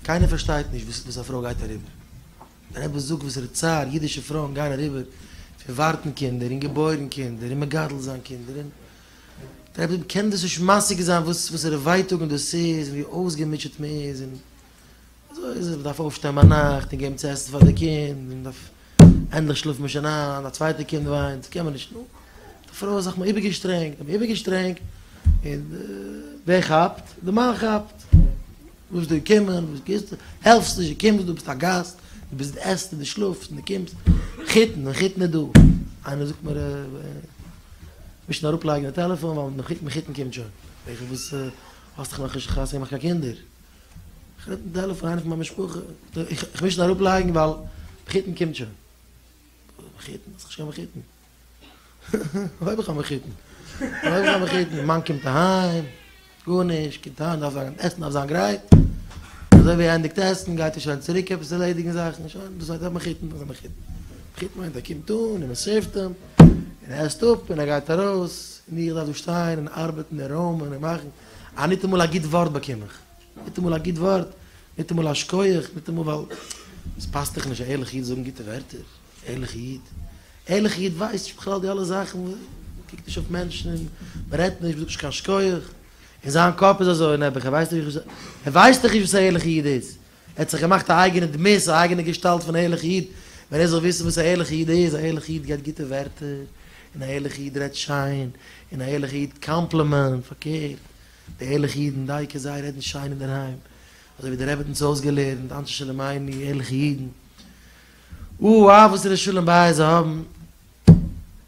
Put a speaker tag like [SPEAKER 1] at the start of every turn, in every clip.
[SPEAKER 1] קיינער פארשטייט נישט וואס א פרוי גייט אריבער. דער רבי זאגט וואס ער האט צער, אידישע פרויען גייען אריבער פון ווארטן קינדער און געבוירן קינדער און מגדל זיין קינדער און דער רבי קען דאס נישט משיג זיין וואס וואסערע ווייטאגן דאס איז און ווי אויסגעמוטשעט מען איז און אזוי איז עס, מען דארף אויפשטיין ביינאכט און געבן צו עסן פאר די קינד און מען דארף ענדליך שלאפט מען שוין איין, א צווייטע קינד וויינט, קען מען נישט, נו, די פרוי האט זיך מיר איבערגעשטרענגט, האט מיר איבערגעשטרענגט, און ווער כאפט? די מאן כאפט, וואס דו קומען, וואס גוסטו, העלפסט נישט, דו קומסט דא, ביסט א גאסט, דו ביסט, דו עסט און דו שלאפסט און דו קומסט, חיתן, ווען חיתן איז דא? איינער זאגט מיר, מישן אראפלייגן די טעלעפאן, ווייל חיתן חיתן קומט שוין, זאג איך, וואס, האסט דאך נאכנישט חתונה געמאכט קיין קינדער, כ'רעדט דעלע פון איינע פון מיין משפחה, איך מוז שוין אראפ לייגן ווייל מחותן קומט שוין. מחותן? האסט נישט קיין מחותן? וואו האב איך א מחותן? וואו האב איך א מחותן? מאן קומט אהיים, גארנישט, קומט אהיים דארף זיין, עסן דארף זיין גרייט, אזוי ווי ער ענדיגט עסן גייט ער שוין צוריק עפעס ערלעדיגן זאכן, שוין, דאס מיינט א מחותן, דאס איז א מחותן. מחותן מיינט ער קומט אן און מען סערווט אים, און ער עסט אפ און ער גייט ארויס, און איך דארף דא שטיין און ארבעטן און רוימען און מאכן. אה, ניטאמאל א גוט ווארט באקום איך. ניטאמאל א גוט ווארט, ניטאמאל א שקויעך, ניטאמאל ווייל עס פאסט דיך נישט א ערליכע איד זאגן גוטע ווערטער. ערליכע איד? ערליכע איד ווייסט נישט בכלל די אלע זאכן, מ'קוקט נישט אויף מענטשן און מ'רעדט נישט, מ'זאגט נישט קיין שקויעך. אין זיין קאפ איז אזוי, נעבעך, ער ווייסט דאך נישט וואס ער ווייסט דאך נישט וואס א ערליכע איד איז. ער האט זיך געמאכט א אייגענע דמות, א אייגענע געשטאלט פון ערליכע איד, ווען ער זאל וויסן וואס א ערליכע איד איז, א ערליכע איד געבט גוטע ווערטער, און א ערליכע איד רעדט שיין, און א ערליכע איד קאמפלימענט, פארקערט, די ערליכע אידן דייקא זיי רעדן שיין אינדערהיים, אזוי ווי די רבי האט אונז אויסגעלערנט, אנשי שלום עיני, ערליכע אידן, אא וו וואס ר' שלום בייזער האבן.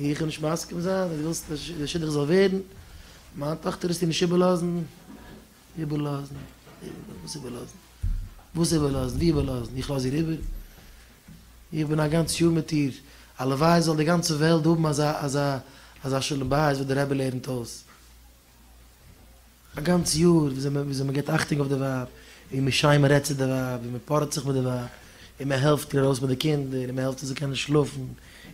[SPEAKER 1] איך נישט מסכים זיין אז דו ווילסט די שידוך זאל ווערן, מיין טאכטער וועסטו נישט איבערלאזן, איבערלאזן, וואס איבערלאזן, וואס איבערלאזן, ווי איבערלאזן, איך לאז איר איבער? איך בין א גאנץ יאר מיט איר, הלוואי זאל די גאנצע וועלט האבן אזא אזא אזא שלום בית וואס די רבי לערנט אויס. א גאנץ יאר וויאזוי מען וויאזוי מען געבט אכטונג אויף די ווייב, ווי מען שיין מען רעדט צו די ווייב, ווי מען פארעט זיך מיט די ווייב, און מען העלפט איר ארויס מיט די קינדער, און מען העלפט איר זאל קענען שלאפן,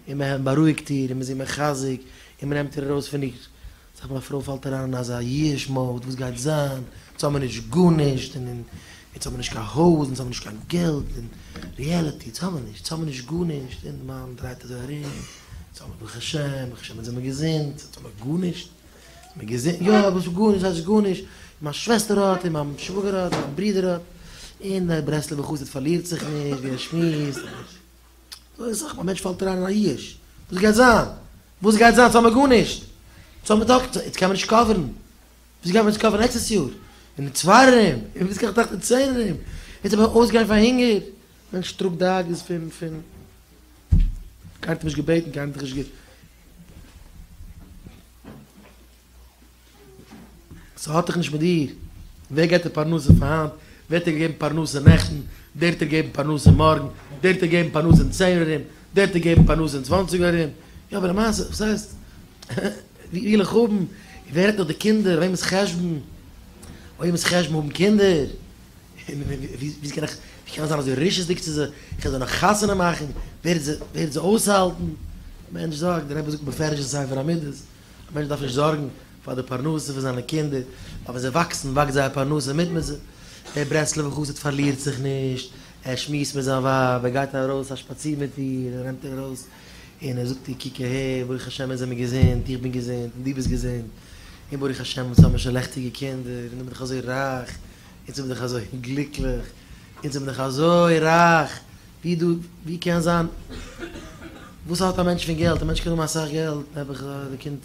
[SPEAKER 1] און מען העלפט בארואיגט איר, און מען איז איר מחזק, און מען נעמט איר ארויס פון איר. זאג מיין פרוי פאלט אריין אין אזא ייאוש מאוד, וואס גייט זיין, יעצט האבן מיר נישט גארנישט, און און יעצט האבן מיר נישט קיין הויז, און יעצט האבן מיר נישט קיין געלט, און ריעליטי, יעצט האבן מיר נישט, יעצט האבן מיר נישט גארנישט, און די מאן דרייט אזוי ארום, יעצט האבן מיר ברוך השם, ברוך השם יעצט זענען מיר געזונט, יעצט האבן מיר גארנישט. מען געזען יא וואס איז גארנישט וואס הייסט גארנישט, און מיין שוועסטער האט און מיין שוואגער האט און מיין ברודער האט, און דער ברסלב'ער חסיד פארלירט זיך נישט ווי ער שמועסט, אזוי סאך מאל א מענטש פאלט אריין אין א ייאוש, וואס גייט זיין? וואס גייט זיין? ס'האמיר גארנישט! ס'האט מען דאך, יעצט קען מען נישט קאווערן, וואס גיימיר יעצט קאווערן נעקסטעס יאר? און אין צוויי ארום, און וואס גיי איך טראכטן אין צען ארום? יעצט וועל איך אויסגיין פאר הונגער? מענטש טראגט דאגות פון פון. קיינער האט אים נישט געבעטן, קיינער האט דיך נישט גע. ס'האט דאך נישט מיט דיר ווער געט די פרנסה פאר היינט, ווער האט דיר געגעבן פרנסה נעכטן, דער האט דיר געגעבן פרנסה מארגן, דער האט דיר געגעבן פרנסה אין צען אור ארום, דער האט דיר געגעבן פרנסה אין צוואנציג אור ארום, יא אבער למעשה וואס הייסט ווי וויל איך האבן, ווער האט נאך די קינדער, וועמענס חשבון, וועמענס חשבון האבן קינדער. ווי קען איך ווי קען איך זיין אזוי רשעות'דיג צו זיי, איך וועל זיי נאך חתונה מאכן, ווער וועט זיי אויסהאלטן? א מענטש זארגט, דער רבי זאגט בפירוש אין ספר המידות, א מענטש דארף נישט זארגן פאר די פרנסה פון זיינע קינדער, ווייל ווען זיי וואקסן וואקסט זייער פרנסה מיט מיט זיי, דער ברסלב'ער חסיד פארלירט זיך נישט, ער שמועסט מיט זיין ווייב, ער גייט ארויס א שפאציר מיט איר, ער נעמט איר ארויס און ער זאגט איר קוק אהער, ברוך השם אונז זעמיר געזונט, איך בין געזונט, און דו ביסט געזונט, און ברוך השם אונז האמיר שוין לעכטיגע קינדער, און דו ביסט דאך אזוי רייך, אונז זעמיר דאך אזוי גליקליך, אונז זעמיר דאך אזוי רייך, ווי דא, ווי קען זיין, וואס האט א מענטש פון געלט, א מענטש קען האבן אסאך געלט, נעבעך אז די קינד,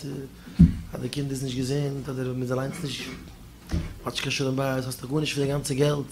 [SPEAKER 1] אז די קינד איז נישט געזונט, אדער מ'איז אליינס נישט, מ'האט נישט קיין שלום בית, האסטעך גארנישט פון די גאנצע געלט.